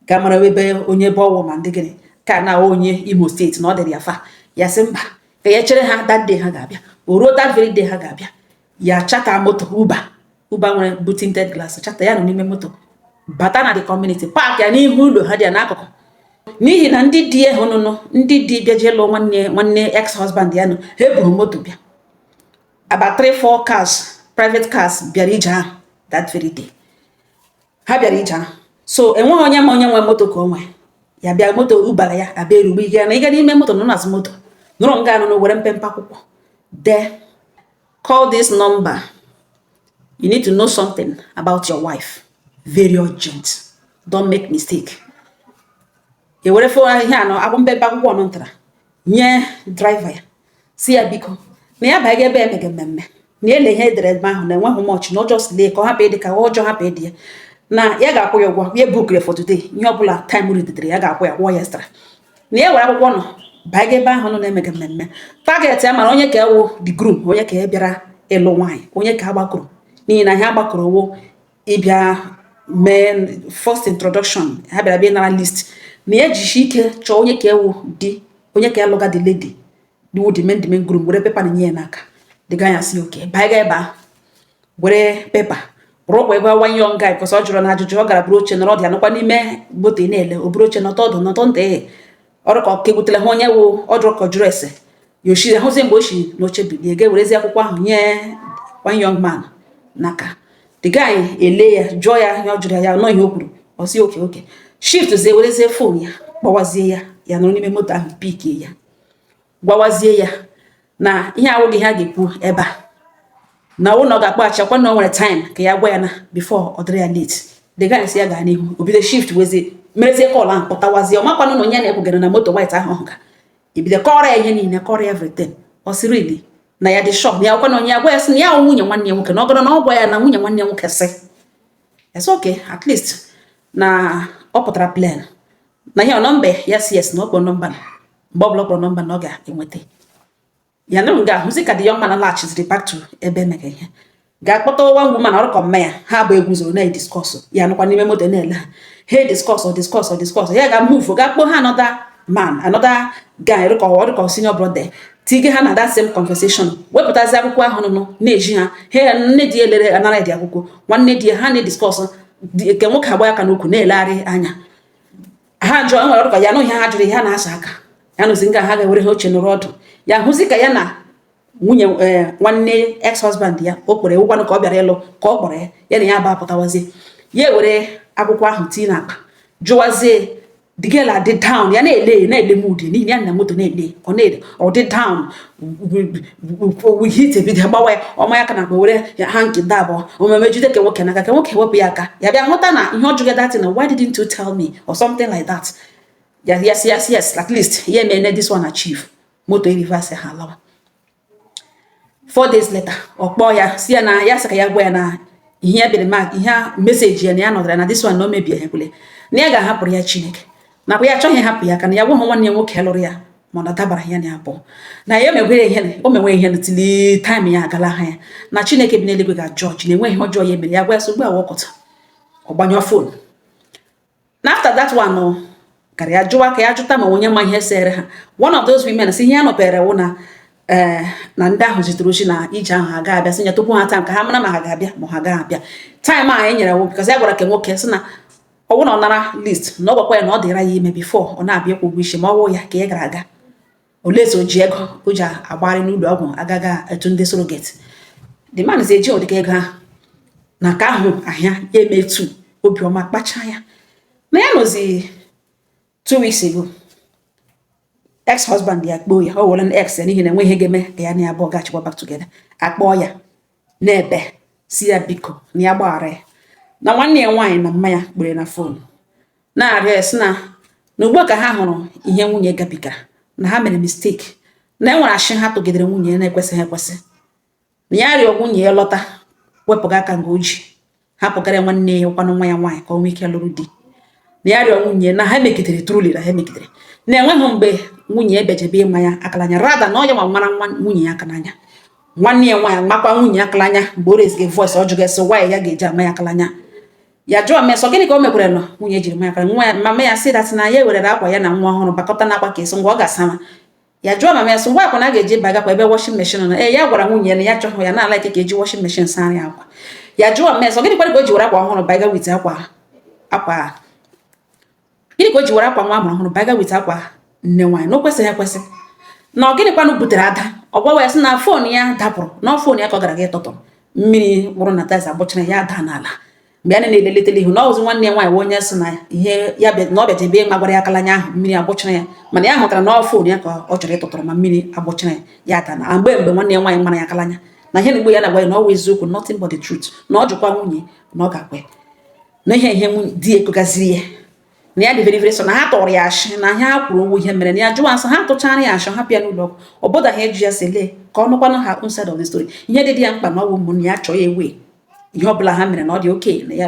ga mara ebe onye ebe ọ wụ ma ndị gịnị ka na onye Imo steeti na ọ dịrị ya far ya sị mba ka ya chere ha that day ha ga-abịa o ruo that very day ha ga-abịa ya charter moto Uber Uber nwere bụ tinted glass charter ya nọ n'ime moto bata na the community park ya n'ihu ụlọ ha dị ya n'akụkụ n'ihi na ndị di ahụ nụnụ ndị di bịa jee lụọ nwanne nwanne ex husband ya nọ ha eburu moto bịa about three four cars private cars bịara ije ahụ that very day ha bịara ije ahụ so enweghị onye ma onye nwe moto ka o nwee ya bịa moto Uber ya abịa erugbu ike na ịga n'ime moto nọ n'azụ moto nọrọ nga anụnụ were mpempe akwụkwọ dee Call this number. You need to know something about your wife. Very urgent. Don't make mistake. E were fo ihe anọ akwụ mpempe akwụkwọ ọnụ ntara nye driver ya sị ya biko na ya baga ebe emege mmemme na ele ihe edere ebe ahụ na enweghị much na ọ just lee ka ọ hapụ ịdị ka ọ just hapụ ịdị ya na ya ga-akwụ ya ụgwọ ya bookere for today ihe ọ bụla time ridedere ya ga-akwụ ya kwụọ ya extra na ya were akwụkwọ nọ baa ga ebe ahụ nọ na-emega mmemme target ya mara onye ka wụ the groom onye ka bịara ịlụ nwaanyị onye ka agbakọrọ n'ihi na ihe a gbakọrọ wụ ịbịa mee first introduction ha bịara bịa nara list na ya jishi ike chọọ onye ka wụ di onye ka alụga the lady do the main the main groom were paper nanye ya n'aka the guy asị okay baa ga ebe ahụ were paper ruo kwa ebe one young guy because ọ jụrụna ajụjụ ọ gara bụrụ oche nọrọ ya anọkwa n'ime moto ị na-ele o buru oche nọtụ ọdụ nọtụ ntị ee ọ rị ka ọ ka egwutela ha onye wụ ọ jụrụ ka ọ jụrụ ese ya ochiri ahụzie mgbe o si n'oche bilie ga ewerezi akwụkwọ ahụ nye one young man n'aka the guy ele ya jụọ ya ihe ọ jụrụ ya nọ ihe o kwuru ọ sị okay okay shift zie werezie phone ya kpọwazie ya ya nọrọ n'ime moto ahụ pikie ya gwawazie ya na ihe awụghị ihe a ga-ekwu ebe a na ọ wụ na ọ ga-akpọghachi akwa na o nwere time ka ya gwa ya na before ọ dịrị ya late the guy sị ya gaa n'ihu o bido shift wezie merezie call ahụ pụtawazie ọ makwanụ na onye na-ekwugara na moto white ahụ ọ hụga ebido kọrọ ya ihe niile kọrọ ya everything ọ sị really na ya dị sure na ya gwa na onye ya gwa ya sị na ya nwunye nwanne ya nwoke na ọ gara na ọ gwa ya na nwunye nwanne ya nwoke sị it's okay at least na ọ pụtara plain na ihe nọmba ya sị yes na ọ kpọrọ nọmba mgbe ọbụla ọ kpọrọ nọmba na ọ ga-enweta ya na nga ahụzi ka the young man laghachiziri back to ebe emega ihe ga kpọta one woman ọ rị ka mma ya ha abụọ eguzoro na-ediskọsụ ya nọkwa n'ime moto na-ele ha ha ediskọsụ diskọsụ diskọsụ ya ga move ga kpọọ ha another man another guy rị ka ọ rị ka senior brother tige ha na that same conversation wepụtazi akwụkwọ ahụ nụnụ na-ezi ha ha nne di elere anara dị akwụkwọ nwanne di ha na-ediskọsụ nke nwoke agba aka n'ukwu na-elegharị anya ha jụọ nwere ọ dị ka ya nụghị ihe ha jụrụ ihe ha na-asa aka ya nọzi nga ha ga-ewere ha oche nọrọ ọdụ ya hụzi ka ya na nwunye eh, nwanne ex husband ya o kpere ụgwanụ ka ọ bịara ịlụ ka ọ kpọrọ ya ya na ya ba apụtawazie ya ewere akwụkwọ ahụ tii n'akpa jụwazie the girl adị down ya na-ele na-ele mood n'ihi ya nọ moto na-ele ọ na-ele ọ dị down we heat ebido gbawa ya ọ manye aka n'akpa were handkerchief abụọ omume jide ke nwoke n'aka ke nwoke wepụ ya aka ya bịa hụta na ihe ọ jụga that thing na why didn't you tell me or something like that yes yes yes at least ya emene this one achieve moto e-reverse ha lawa four days later ọ kpọọ ya sị ya na ya sị ka ya gwa ya na ihe ya bere ma ihe meseji ya na ya nọtara na this one na o mebie ya kwule na ya ga-ahapụrụ ya Chineke nakwa ya achọghị hapụ ya ka na ya gwa ha nwanne ya nwoke lụrụ ya mana ọ dabara ya na ya bụ na ya emegwere ihe o menwe ihe till time ya agala ha ya na chineke bi n'eluigwe ga-judge na enweghị ọjọọ ya mere ya gwa ya so ugbu a wọkọta ọ gbanyụọ fon na after that one oh, gara ya jụwa ka ya jụta ma onye ma ihe sere ha one of those women sị ihe ya nọpere wụ na ee eh, na ndị ahụ zitere ozi na ije ahụ ha ga-abịa sị ya tupu ha taa ka ha mara ma ha ga-abịa ma ha ga-abịa time a anyị nyere wụ because ya gwara ke nwoke sị na ọ bụrụ na ọ nara list na ọ gwakwa ya na ọ dịra ya ime before ọ na-abịa ịkwụ ụgwọ isi ma ọ wụ ya ka ị gara aga olezi o ji ego o ji agbagharị n'ụlọ ọgwụ agaga etu ndị surrogate the man is eji ụdịka ego ahụ n'aka ahụ ahịa ya eme etu obiọma kpachaa ya na ya nọzi two weeks ago ex husband ya kpọọ ya ọ wụla ex ya n'ihi na enweghị ihe ga-eme ka ya na ya abụọ gachikwa back together akpọọ ya na-ebe sị ya biko na ya gbaghara ya na nwanne ya nwaanyị na mma ya kpere na fon na-arịọ ya sị na na ugbu ka ha hụrụ ihe nwunye gabigara na ha mere mistake na enwere ashị ha tụgidere nwunye ya na-ekwesịghị ekwesị na ya rịọ nwunye ya lọta wepụga aka nga o ji hapụgara ya nwanne ya ọ wụkwanụ nwa ya nwaanyị ka o nwee ike lụrụ di na ya rịọ nwunye na ha megidere truly na ha megidere na enweghị mgbe nwunye bịajebe ịma ya aka l'anya rather na ọ yanwa mara nwa nwunye ya aka l'anya nwanne ya nwaanyị makwa nwunye aka l'anya mgbe o reziga voice ọ jụga esi nwaanyị ya ga-eji ama ya aka l'anya ya jụọ mama ya sị gịnị ka o mekwaranụ nwunye jiri ma ya aka l'anya mama ya sị that na ya werere akwa ya na nwa ọhụrụ bakọta na akwa ka esi ngwa ọ ga-asama ya jụọ mama ya sị ngwa akwa na a ga-eji bagakwa ebe washing machine nọ ee ya gwara nwunye ya na ya achọghị ya na-ala ike ka eji washing machine saanụ akwa ya jụọ mama ya sị gịnị kwanụ ka o ji were akwa ọhụrụ baga with akwa akwa gịnị ka o ji were akwa nwa amụrụ ọhụrụ baga with akwa nne nwaanyị na o kwesịghị ekwesị na ọ gịnịkwanụ butere ada ọ gwawa ya sị na fon ya dapụrụ na fon ya ka ọ gara ga ịtụtụ mmiri wụrụ na tiles agbụchara ya ada n'ala mgbe a na-eleletele ihu na ọ bụzi nwanne ya nwaanyị bụ onye sị na ihe ya na ọ bịajebe ịmagwara ya aka l'anya ahụ mmiri agbụchara ya mana ya hụtara na ọ fon ya ka ọ chọrọ ịtụtụrụ ma mmiri agbụchara ya ya ada na mgbe mgbe nwanne ya nwaanyị mara ya aka l'anya na ihe na-egbu ya na-agwa ya na ọ wụ eziokwu nothing but the truth na ọ jụkwa nwunye na ọ ga-ekwe na ihe ihe di ya kwugaziri ya na ya dị very very sure na ha tụrụ ya ashị na ihe ha kwuru ọ wụghị ihe mere na ya jụwa ya sị ha tụchara ya ashị ha bịa n'ụlọ ọgwụ ọ bọdaghị ịjụ ya si lee ka ọ nụkwanụ her own side of the story ihe dị dị ya mkpa na ọ wụ ụmụnne ya chọọ ya ewee ihe ọbụla ha mere na ọ dị okay na ya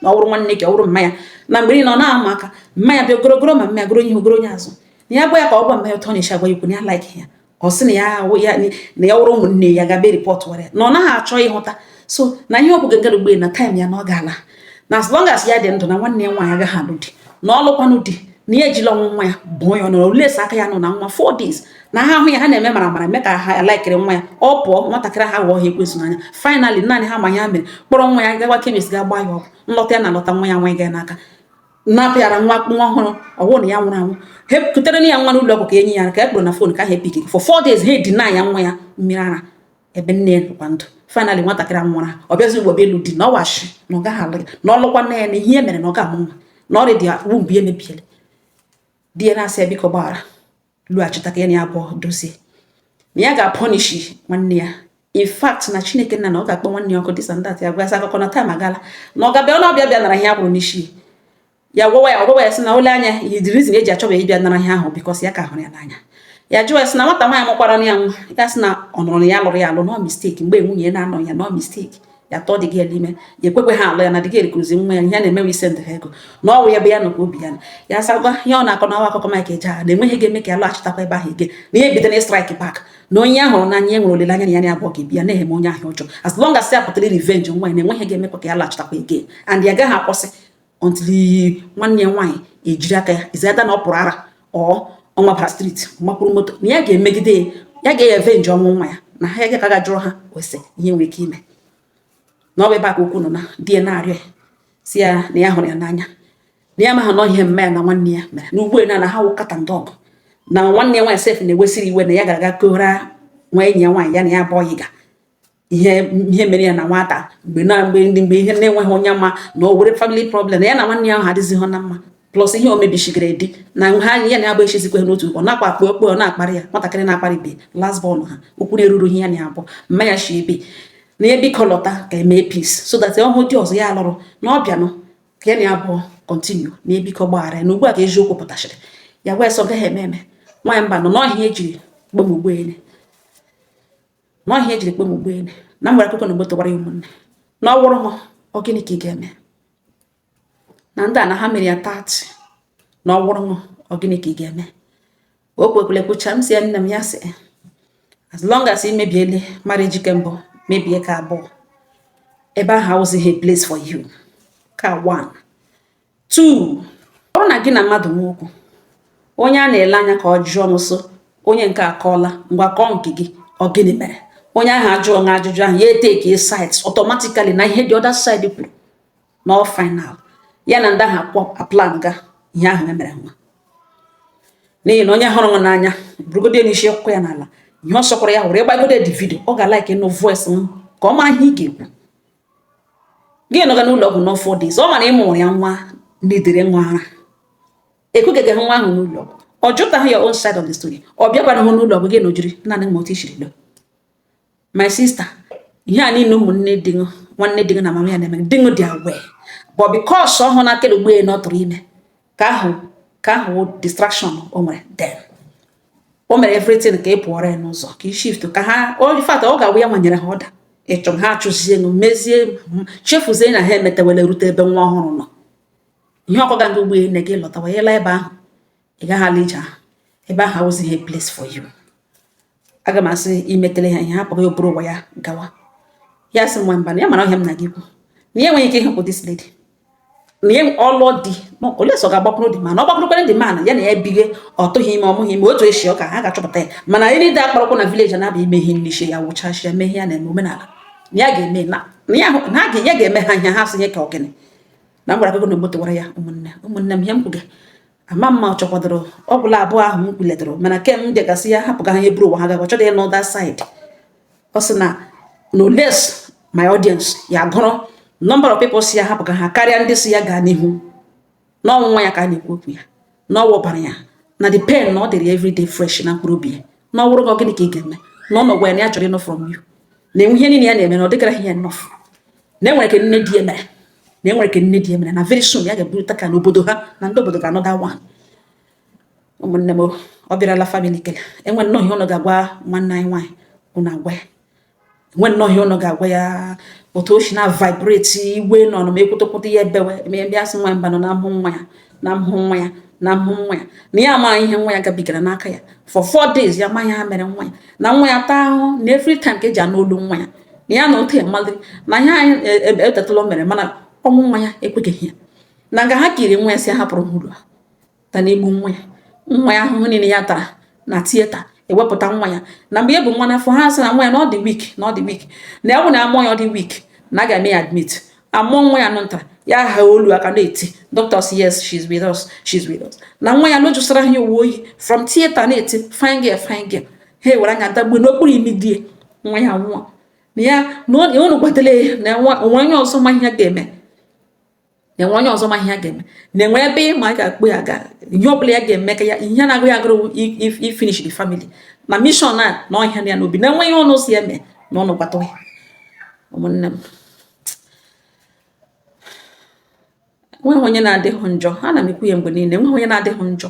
na ọ wụrụ nwanne ya ọ wụrụ mama ya na mgbe niile ọ na-ama aka mmanya bịa ogorogoro ma mama ya goro ihe ogoro onye azụ na ya gwa ya ka ọ gwa mama ya etu ọ na-esi agwa ya okwu na ya like ya ọ sị na ya na ya wụrụ ụmụnne ya gabe report were na ọ naghị achọ ịhụta so na ihe ọ bụga ngara ugbu a na time ya na ọ ga-ala na as long as ya dị ndụ na nwanne ya nwaanyị agaghị alụ di na ọ lụkwanụ di na ya ejila ọnwụ nwa ya bụọ ya ọnụ aka ya nọ na nwa four days na ha ahụ ya ha na-eme mara mara mee ka ha likere nwa ya ọ pụọ nwatakịrị a aghọọ ha ekwensu n'anya finally naanị ha ma ihe ha mere kpọrọ nwa ya gawa chemist ga gbaa ya ọgwụ nlọta ya na-alọta nwa ya nwa ya n'aka napịara nwa nwa ọhụrụ ọ wụ na ya nwụrụ anwụ he kutere na ya nwa n'ụlọ ọgwụ ka enyi ya ka a kpọrọ na phone ka ha epick for four days ha edenya nwa ya mmiri ara ebe nne ya nọkwa ndụ finally nwatakịrị a nwụrụ ọ bịazi ugbo bịa elu di na ọwashi na ọ gaghị alụ ya na ọ lụkwa nne ya na ihe mere na ọ ga-amụ nwa na already ya womb emebiele di ya na-asị ya biko gbaghara lọghachita ka ya na ya abụọ dozie na ya ga-apunish nwanne ya in fact na chineke nna na ọ ga-akpọ nwanne ya ọkụ this and that ya gwasị akụkọ na time agala na ọ ga-abịa ọnụ ọ bịa bịa nara ihe a kwụrụ n'isi ya gwawa ya ọ gwawa ya sị na o lee anya ihe the reason e ji achọba ịbịa nara ihe ahụ because ya ka hụrụ ya n'anya ya jụọ ya sị na nwata nwaanyị mụkwara ya nwa ya sị na ọ nụrụ na ya lụrụ ya alụ na ọ mistake mgbe nwunye na-anọ ya na ọ mistake ya tụọ the girl ime ya ekwekwe ha alụ ya na the girl ekuruzi nwa ya ihe na-emewe isendụ ha ego na ọ wụ ebe ya nọ ka obi ya nọ ya sagwa ihe ọ na-akọ na ọ wụ akụkọ Mike Ejeagha na e nweghị ihe ga-eme ka ya lọghachitakwa ebe ahụ again na ihe bido na strike back na onye ahụ hụrụ n'anya e nwere olileanya na ya na ya abụọ ga-ebi ya na-eme onye ahụ ọjọọ as long as ya pụtara revenge nwa ya na e nweghị ihe ga-emekwa ka ya lọghachitakwa again and ya gaghị akwụsị until nwanne ya nwaanyị ejiri aka ya is either na ọ pụrụ ara or ọ mabara street or mapụrụ moto na ya ga-emegide ya ya ga-avenge ọnwụ nwa ya na ha ya ka ga jụrụ ha ose ihe nwere ike ime na ọ bụ ebe a ka okwu nọ na di ya na-arịọ ya sị ya na ya hụrụ ya n'anya na ya amaha na ihe nne ya na nwanne ya mere na ugbo na na ha wụ cat and dog na nwanne ya nwaanyị sef na-ewesiri iwe na ya gara aga kọọra nwa enyi ya nwaanyị ya na ya bụ ọyị ga ihe ihe mere ya na nwata mgbe na mgbe ndị mgbe ihe na-enweghị onye ma na e nwere family problem na ya na nwanne ya ahụ adịghịzị na mma plus ihe o mebishigara dị na ha ya na ya bụ echizikwe n'otu ọ na-akpa akpa okpo ọ na-akparị ya nwatakịrị na-akparị be last born ha okwu na-eruru ihe ya na abụọ mma ya shi ebe na ya biko lọta ka e mee peace so that ọ wụ di ọzọ ya alụrụ na ọ bịanụ ka ya na ya abụọ continue na ya biko gbaghara ya na ugbu a ka eziokwu pụtachiri ya wee sị ọ gaghị eme eme nwaanyị mba na ọ ihe e jiri kpọọ m ugbene na ọ ihe e jiri kpọọ m ugbene na mgbara akụkọ na mgbe tọwara ya ụmụnne na ọ wụrụ ha ọ gịnị ka ị ga-eme na ndị a na ha mere ya tati na ọ wụrụ ha ọ gịnị ka ị ga-eme o kwukwala kwucha m sị ya nne m ya sị as long as ị mebiele marriage ke mbụ mebie ke abụọ ebe ahụ awụzighị place for you ka one 2 ọ na gị na mmadụ nwe okwu onye a na-ele anya ka ọ jụọ m so onye nke akọọla ngwa kọọ nke gị ọ gịnị mere onye ahụ ajụọ na ajụjụ ahụ ya etake side automatically na ihe the other side kwuru na ọ final ya na ndị ahụ aplan ga ihe ahụ e mere nwa n'ihi na onye hụrụ nwa n'anya burugodo ya n'isi akụọ ya n'ala ihe ọ sọkwara ya hụrụ ịgbagode the video ọ ga-alike ịnụ voice m ka ọ mara ihe ị ga-ekwu gị nọga n'ụlọ ọgwụ nọ four days ọ mara ịmụ ya nwa n'idere nwa ara ekugaghị nwa ahụ n'ụlọ ọgwụ ọ jụtaghị your own side of the story ọ bịakwana hụ n'ụlọ ọgwụ gị nọ jiri naanị ma otu i siri lọọ my sister ihe a niile ụmụnne di nwanne di na mama ya na-eme di dị aware but because ọ hụ na akịrị ugbo na ọ tụrụ ime ka ahụ ka ahụ distraction o nwere then o mere everything ka ị pụọrọ ya n'ụzọ ka ị shift ka ha in fact ọ ga-awụ ya nwa nyere ha order ịchụ ha achụzie nụ mezie chefuzie na ha emetewele rute ebe nwa ọhụrụ nọ ihe ọ kọga ndị ugbe na gị lọtawa ịla ebe ahụ ị gaghị ala ije ahụ ebe ahụ awụzighị place for you aga m asị imetele ha ihe hapụrụ o buru ụwa ya gawa ya sị nwa mba na ya mara ọ ihe a m na-aga ikwu na ya enweghị ike ịhapụ this lady na ya ọlụ di unless ọ ga-agbakwuru di mana ọ gbakwurukwere di mana ya na ya ebighe ọ tụghị ime ọ mụghị ime otu e si ọ ka ha ga-achọpụta ya mana anyị niile akparakwa na village na-abịa ime ihe n'ishi ya wụchacha ya mee ihe ya na-eme omenala na ya ga-eme na ya ga-eme ha ihe ha sị ihe ka ọ gịnị na m gwara gị na moto wara ya ụmụnne ụmụnne m ihe m kwuga ama m ma ọ chọkwadoro ọ gwụla abụọ ahụ m kwuletụrụ mana ke m bịagasị ya hapụga ha ihe buru ụwa ha gaba chọdị ya n'other side ọ sị na unless my audience ya gụrụ number of people sị ya hapụga ha karịa ndị sị ya gaa n'ihu n'ọnwụ nwa ya ka a na-ekwu okwu ya na ọ wụbara ya na the pain na ọ dịrị everyday fresh na mkpụrụ obi ya na ọ wụrụ gị gịnị ka ị ga-eme na ụnụ gwa ya na ya chọrọ ịnụ from you na enwe ihe niile ya na-eme na ọ dịgaraghị ya enough na e nwere ke nne di ya mere na e nwere ke nne di ya mere na very soon ya ga-eburịta ka n'obodo ha na ndị obodo ga-anụ ụda nwa ụmụnne m ọ bịarala family kele enwe nnọọ ihe ụnụ ga-agwa nwanne anyị nwaanyị ụnụ agwa ya enwe nnọọ ihe ụnụ ga-agwa ya otu o si na vibrate iwe nọ na m ekwutekwute ya ebewe eme ya sị nwa mba nọ na mmụọ nwa ya na mmụọ nwa ya na mmụọ nwa ya na ya amaghị ihe nwa ya gabigara n'aka ya for four days ya amaghị ha mere nwa ya na nwa ya taa ahụhụ na every time ka e ji anụ olu nwa ya na ya na otu ya mmadụ na ihe anyị e, e, e, etetala o mere mana ọnwụ nwa ya ekweghị ya na nga ha kiri nwa ya si hapụrụ hụrụ ha ta na egbu nwa ya nwa ya ahụhụ niile ya tara na theatre e wepụta nwa ya na mgbe ya bu nwa n'afọ ha sị na nwa ya na ọ dị weak na ọ dị weak na ọ bụ na a mụọ ya ọ dị weak na a ga-eme ya admit a mụọ nwa ya nwa nta ya ahaa olu akwa na-eti dọkịta sị yes she's with us she's with us na nwa ya lojụsara ha uwe oyi from theatre na-eti fine girl fine girl ha ewere nwa ya tagbuo n'okpuru imi di ya nwa ya nwụọ na ya na unu gwatara ya na enwe onye ọzọ ma ihe ga-eme na enwe onye ọzọ ma ihe ya ga-eme na enwe ebe ị ma a ga-akpọ ya gaa ihe ọbụla ya ga-eme ka ya ihe na-agụ ya agụụ wụ ifinish the family na mission a na ọ hịa ya n'obi na enwe ihe ụnụ sị eme na ụnụ gwata ya ụmụnne m nweghị onye na-adịghị njọ ana m ekwu ya mgbe niile nweghị onye na-adịghị njọ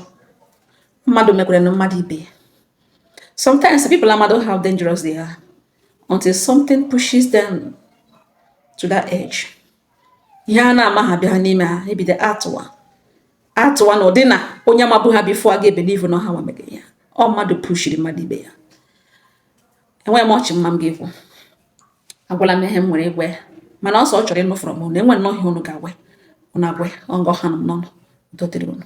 mmadụ mekwere na mmadụ ibe ya sometimes people amarọ how dangerous they are until something pushes them to that edge ihe ha na-amaha bi ha n'ime ha ebido atụwa atụwa n'ụdị na onye mabu ha before aga ebelieve na ọ ha nwa mege ya ọ mmadụ pushiri mmadụ ibe ya enweghị much mụwa ga-ekwu ekwuola m ihe m nwere ikwu mana ọ sị ọ chọrọ ịnụ from unu e nwee nnọọ ihe unu ga-agwa unu agwa ọngọ ha nọ n'ọnụ udo dịrị unu